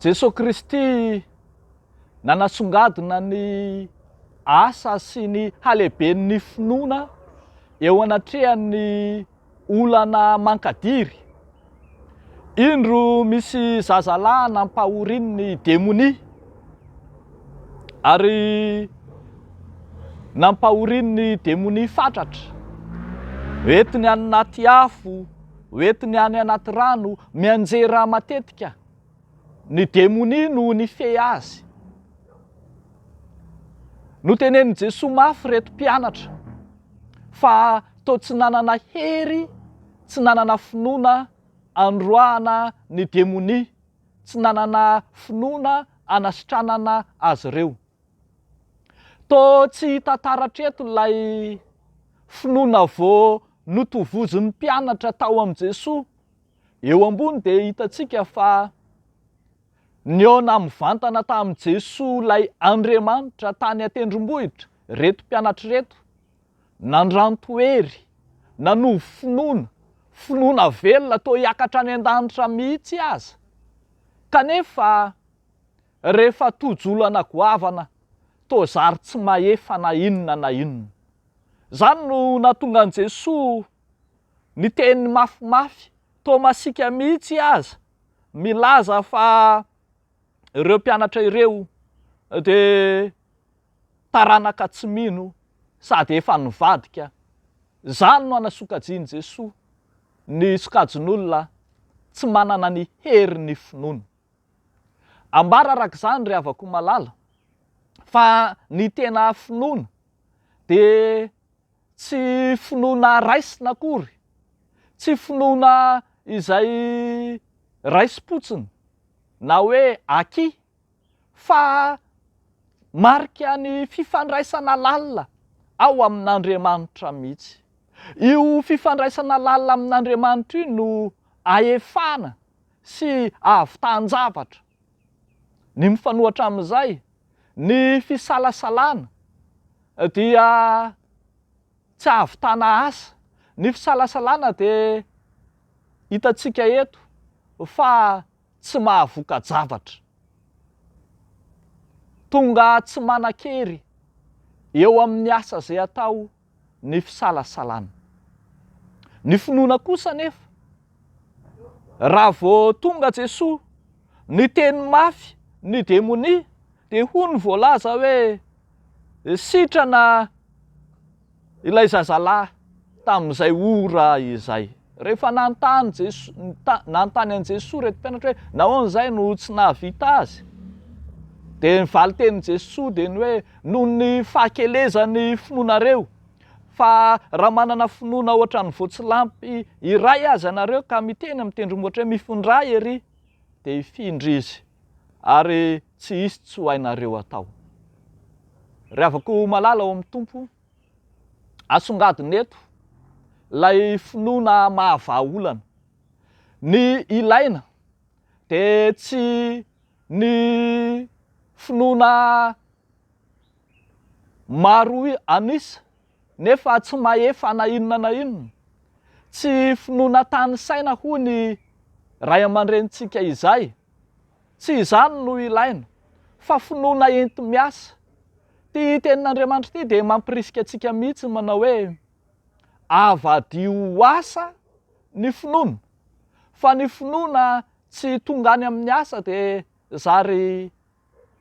Jesoa Kristy nanasongadina ny asa sy ny halehiben'ny finoana eo anatrehan'ny olana mankadiry. Indro misy zazalahy nampahorian'ny demonia ary nampahorian'ny demonia fatratra. Entiny any anaty afo. Ho entiny any anaty rano mianjera matetika ny demonia no nifehy azy. Notenenin'i Jesoa mafy ireto mpianatra fa toa tsy nanana hery, tsy nanana finoana anoroahana ny demonia, tsy nanana finoana anasitranana azy ireo. Toa tsy hita taratra eto ilay finoana vao notovozin'ny mpianatra tao amin'i Jesoa. Eo ambony dia hitantsika fa nihaona mivantana tamin'i Jesoa ilay Andriamanitra tany an-tendrombohitra ireto mpianatra ireto. Nandranto hery, nanovo finoana, finoana velona toa hiakatra any an-danitra mihitsy aza. Kanefa Rehefa tojo olana goavana toa zary tsy mahefa na inona na inona. Izany no nahatonga an'i Jesoa niteny mafimafy toa masiaka mihitsy aza milaza fa ireo mpianatra ireo dia taranaka tsy mino sady efa nivadika. Izany no anasokajian'i Jesoa ny sokajin'olona tsy manana ny herin'ny finoana. Ambara araka izany ry havako malala fa ny tena finoana dia tsy finoana raisina akory, tsy finoana izay raisim-potsiny na hoe acquis fa marika ny fifandraisana lalina ao amin'Andriamanitra mihitsy. Io fifandraisana lalina amin'Andriamanitra io no ahefana sy hahavitahan-javatra, ny mifanohatra amin'izay, ny fisalasalana dia tsy hahavitana asa, ny fisalasalana dia hitantsika eto fa tsy mahavoka-javatra, tonga tsy manan-kery eo amin'ny asa izay atao ny fisalasalana. Ny finoana kosa anefa, raha vao tonga Jesoa niteny mafy ny demonia dia hoy ny voalaza hoe, sitrana ilay zazalahy tamin'izay ora izay. Rehefa nanontany Jeso, nita, nanontany an'i Jesoa ireto mpianatra hoe, Nahoana izay no tsy nahavita azy? Dia ny valin-tenin'i Jesoa dia ny hoe, Noho ny fahakelezan'ny finoanareo. Fa raha manana finoana ohatran'ny voatsilampy iray aza ianareo ka miteny amin'ny tendrombohitra hoe, Mifindrà ery! dia hifindra izy, ary tsy hisy tsy ho hainareo atao. Ry havako malala ao amin'ny Tompo, Asongadina eto ilay finoana mahavaha olana. Ny ilaina dia tsy ny finoana maro an'isa nefa tsy mahefa na inona na inona. Tsy finoana tanisaina hoy ny ray aman-drenintsika izay. Tsy izany no ilaina, fa finoana enti-miasa. Ity tenin'Andriamanitra ity dia mampirisika antsika mihitsy ny manao hoe, Avadiho ho asa ny finoana, fa ny finoana tsy tonga any amin'ny asa dia zary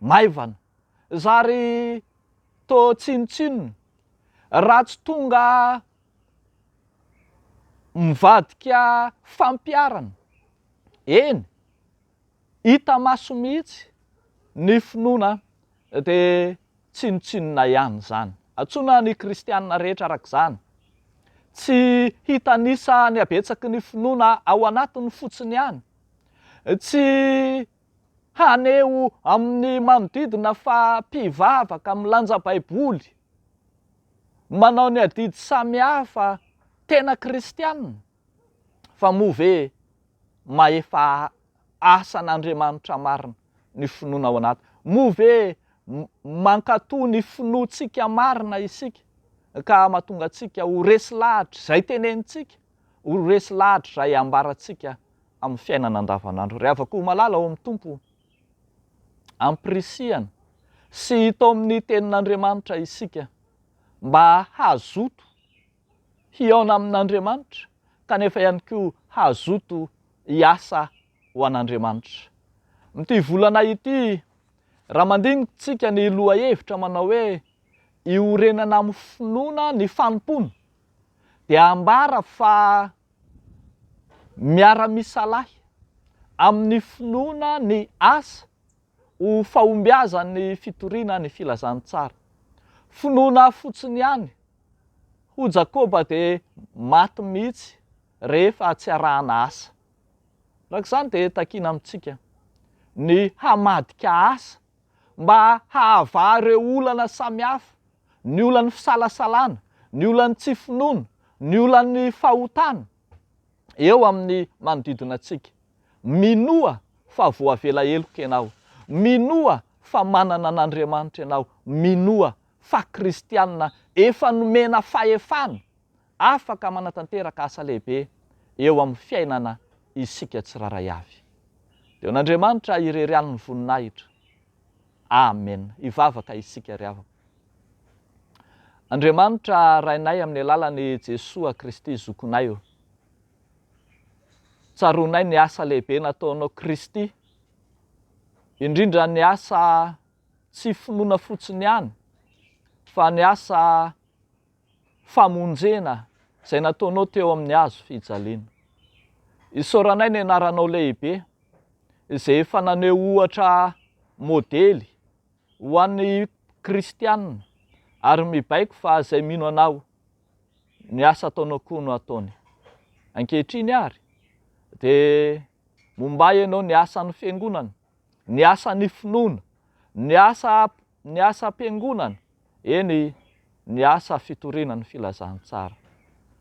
maivana, zary toa tsinontsinona, raha tsy tonga mivadika fampiharana. Eny! Hita maso mihitsy ny finoana dia tsinontsinona ihany izany. Antsoina ny kristiana rehetra araka izany. Tsy hitanisa ny habetsaky ny finoana ao anatiny fotsiny ihany. Tsy haneho amin'ny manodidina fa mpivavaka, milanja baiboly, manao ny adidy samihafa, tena kristiana. Fa moa ve mahefa asan' Andriamanitra marina ny finoana ao anaty? Moa ve mankatò ny finoantsika marina isika ka mahatonga antsika ho resy lahatra izay tenenintsika, ho resy lahatra izay ambarantsika amin'ny fiainana andavanandro? Ry havako malala ao amin'ny Tompo, ampirisihana sy hita ao amin'ny Tenin'Andriamanitra isika mba hazoto. hihaona amin'Andriamanitra kanefa ihany koa hazoto hiasa ho an'Andriamanitra. Amin'ity volana ity, raha mandinitsika ny lohahevitra manao hoe Iorenana amin'ny finoana ny fanompoana dia ambara fa miara-misalahy amin'ny finoana ny asa ho fahombiazan'ny fitoriana ny filazantsara. Finoana fotsiny ihany Hoy Jakoba dia maty mihitsy rehefa tsy arahana asa. Araka izany dia takiana amintsika ny hamadika asa mba hahavaha ireo olana samihafa, ny olan'ny fisalasalana, ny olan'ny tsy finoana, ny olan'ny fahotana eo amin'ny manodidina antsika. Minoa fa voavela heloka ianao. Minoa fa manana an'Andriamanitra ianao. Minoa fa kristianina efa nomena fahefana afaka manatanteraka asa lehibe eo amin'ny fiainana isika tsirairay avy. Deo n'Andriamanitra irery any ny voninahitra. Amen. Hivavaka isika ry havana. Andriamanitra Rainay amin'ny alalan'i Jesoa Kristy Zokonay o. Tsaroanay ny asa lehibe nataonao Kristy, indrindra ny asa tsy finoana fotsiny ihany fa ny asa famonjena izay nataonao teo amin'ny hazo fijaliana. Isaoranay ny anaranao lehibe izay efa naneho ohatra modely ho an'ny kristiana ary mibaiko fa izay mino anao ny asa ataonao koa no ataony. Ankehitriny ary dia mombay ianao ny asan'ny fiangonana ny asan'ny finoana, ny asa ny asam-piangonana, eny, ny asa fitoriana ny filazantsara.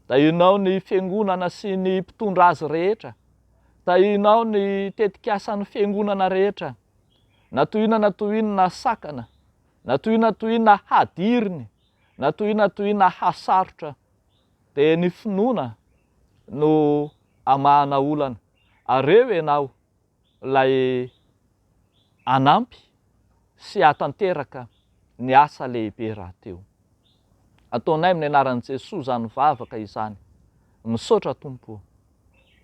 Tahinao ny fiangonana sy ny mpitondra azy rehetra. Tahinao ny tetikasan'ny fiangonana rehetra. Na toy inona na toy inona sakana, na toy inona na toy inona hadiriny, na toy inona na toy inona hasarotra, dia ny finoana no amahana olana. Ary eo ianao, ilay hanampy sy hahatanteraka ny asa lehibe rahateo. Ataonay amin'ny anaran'i Jesoa izany vavaka izany. Misaotra Tompo o.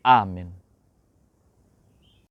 Amen.